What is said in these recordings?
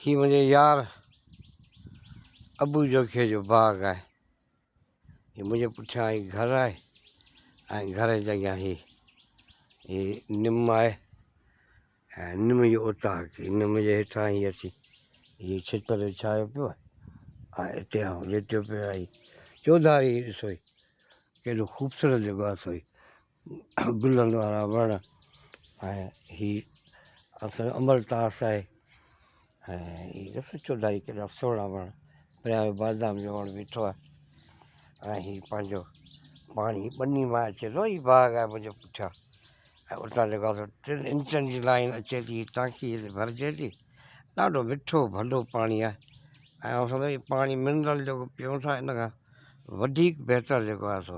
هي منهنجي يار ابو جوکي جو باغ آهي هي منهنجي پٺيان هي گهر آهي ۽ گهر جي اڳيان هي هي نم آهي ۽ نم جو اوطاق هي نم جي هيٺان هي اچي هي ڇتر وڇايو پيو آهي ۽ هتي آئون ليٽيو پيو آهي چوڌاري ڏسو هي ڪيڏو خوبصورت جڳهه اٿئي گلن وارا وڻ ۽ هي اسان امل تاس آهي ۽ ڏسو چوڌاري ڪيڏا سهڻا وڻ پريان بادام جو وڻ بيٺو آهي ۽ هي پنهنجو پاڻي ٻني مان اچي ٿو هي باغ آهي منهنجي پٺيان ۽ اتان جيڪو آسان ٽن انچن جي لائين اچي ٿي ٽانڪي تي ڀرجي ٿي ڏاڍو مٺو ڀلو پاڻي آهي ۽ اسان ته هي پاڻي منرل جيڪو پيئون ٿا ان کان وڌيڪ بهتر جيڪو آهي سو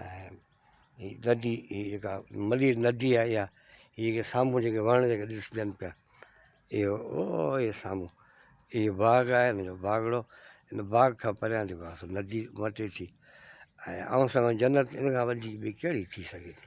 ۽ هي ندي هي جيڪا ملير ندي آهي اها هي جيڪي سامهون جيڪي وڻ جيڪي ڏسجن پيا اهو اهي سامهون اهي باغ آهي ن جو باغڙو ان باغ کان پريان جيڪو آهي سو ندي مٽي ٿي ۽ آئون سان جنت ان کان وڌيڪ ٻي ڪهڙي ٿي سگهي ٿي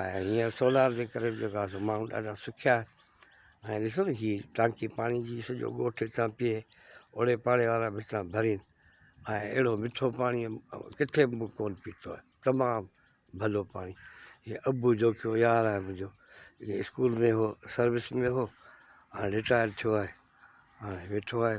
۽ هينئر سولار جي ڪري به جيڪو آهي ماڻهو ڏاڍا سکيا آهن ۽ ڏسو نه هي ٽانڪي پاڻي جي سڄو ڳوٺ هتان پيئي اوڙي پاڙي وارا به هتان ڀرين ۽ اهڙو مٺو پاڻي ڪٿي به ڪون پيتو آهي تمام ڀلو پاڻي هي ابو جوکيو يار آهي منهنجو اسڪول ۾ هو سروس ۾ هو هاڻي رٽائر ٿيو آهي هاڻي ويٺو آهي